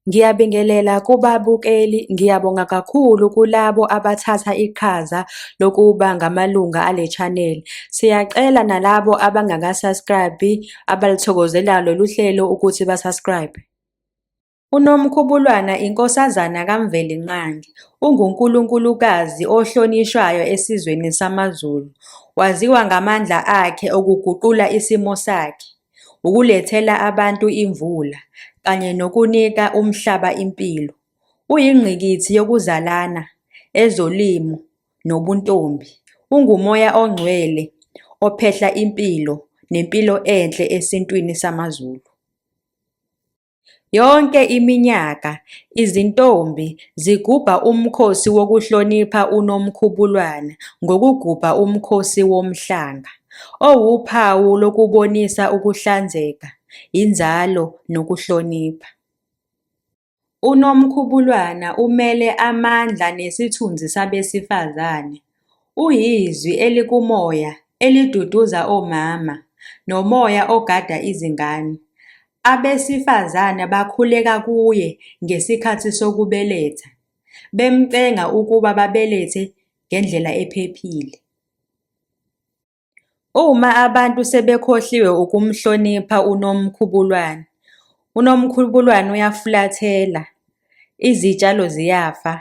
Ngiyabingelela kubabukeli, ngiyabonga kakhulu kulabo abathatha iqhaza lokuba ngamalunga ale channel. Siyacela nalabo abangaka-subscribe abalithokozela lolu hlelo ukuthi ba-subscribe. UNomkhubulwana inkosazana kaMvelinqangi, ungunkulunkulukazi ohlonishwayo esizweni samaZulu. Waziwa ngamandla akhe okuguqula isimo sakhe. ukulethela abantu imvula kanye nokunika umhlaba impilo. Uyingqikithi yokuzalana, ezolimo nobuntombi. Ungumoya ongcwele ophehla impilo nempilo enhle esintwini samaZulu. Yonke iminyaka izintombi zigubha umkhosi wokuhlonipha uNomkhubulwana ngokugubha umkhosi woMhlanga, owuphawu lokubonisa ukuhlanzeka, inzalo nokuhlonipha. UNomkhubulwana umele amandla nesithunzi sabesifazane, UyiZwi elikumoya eliduduza omama nomoya ogada izingane. Abesifazane bakhuleka kuye ngesikhathi sokubeletha, bemcenga ukuba babelethe ngendlela ephephile. Uma abantu sebekhohliwe ukumhlonipha uNomkhubulwane, uNomkhubulwane uyafulathela, izitshalo ziyafa,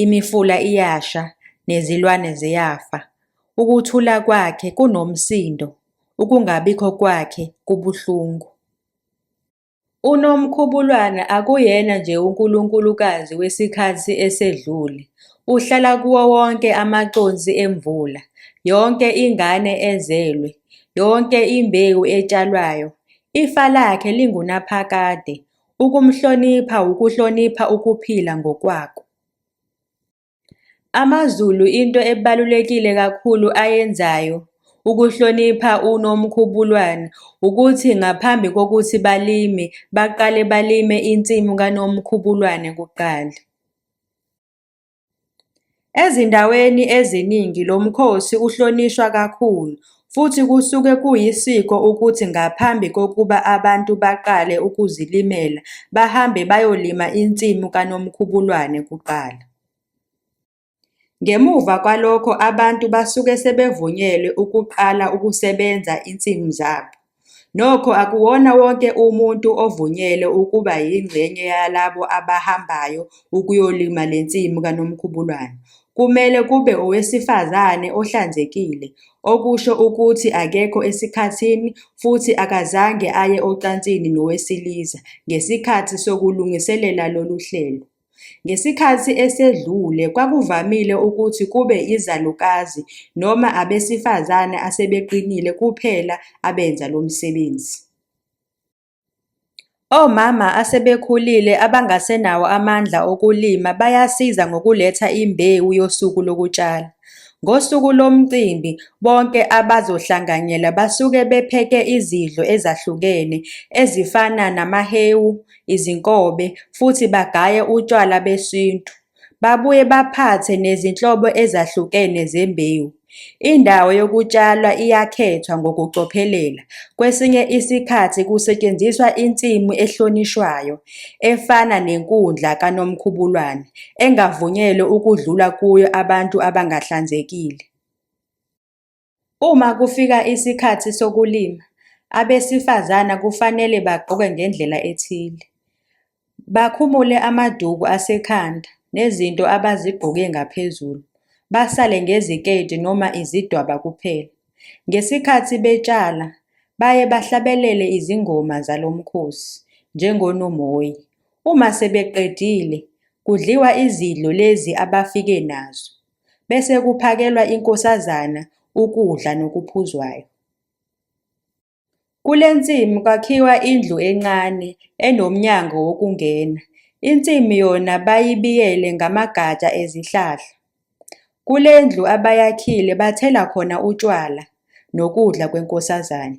imifula iyasha nezilwane ziyafa. Ukuthula kwakhe kunomsindo, ukungabikho kwakhe kubuhlungu. UNomkhubulwana akuyena nje unkulunkulukazi wesikhathi esedlule, uhlala kuwo wonke amaconsi emvula, yonke ingane ezelwe, yonke imbewu etshalwayo. Ifa lakhe lingunaphakade, ukumhlonipha wukuhlonipha ukuphila ngokwako. AmaZulu into ebalulekile kakhulu ayenzayo ukuhlonipha uNomkhubulwane ukuthi ngaphambi kokuthi balime baqale balime insimu kaNomkhubulwane kuqala. Ezindaweni eziningi lo mkhosi uhlonishwa kakhulu Futhi kusuke kuyisiko ukuthi ngaphambi kokuba abantu baqale ukuzilimela bahambe bayolima insimu kaNomkhubulwane kuqala. Ngemuva kwalokho abantu basuke sebevunyelwe ukuqala ukusebenza insimu zabo. Nokho akuwona wonke umuntu ovunyelwe ukuba yingxenye yalabo abahambayo ukuyolima le nsimu kaNomkhubulwane. Kumele kube owesifazane ohlanzekile, okusho ukuthi akekho esikhathini futhi akazange aye ocansini nowesilisa ngesikhathi sokulungiselela lolu hlelo. Ngesikhathi esedlule, kwakuvamile ukuthi kube izalukazi noma abesifazane asebeqinile kuphela abenza lo msebenzi. Omama asebekhulile abangasenawo amandla okulima bayasiza ngokuletha imbewu yosuku lokutshala. Ngosuku lomcimbi, bonke abazohlanganyela basuke bepheke izidlo ezahlukene ezifana namahewu, izinkobe futhi bagaye utshwala besintu. Babuye baphathe nezinhlobo ezahlukene zembewu. Indawo yokutshalwa iyakhethwa ngokucophelela, kwesinye isikhathi kusetshenziswa insimu ehlonishwayo, efana nenkundla kaNomkhubulwane, engavunyelwe ukudlula kuyo abantu abangahlanzekile. Uma kufika isikhathi sokulima, abesifazana kufanele bagqoke ngendlela ethile. Bakhumule amaduku asekhanda nezinto abazigqoke ngaphezulu, basale ngeziketi noma izidwaba kuphela. Ngesikhathi betshala, baye bahlabelele izingoma zalo mkhosi, njengonomoyi. Uma sebeqedile, kudliwa izidlo lezi abafike nazo. bese kuphakelwa inkosazana ukudla nokuphuzwayo. Kule nsimu kwakhiwa indlu encane enomnyango wokungena, insimu yona bayibiyele ngamagatsha ezihlahla. Kule ndlu abayakhile bathela khona utshwala nokudla kwenkosazane.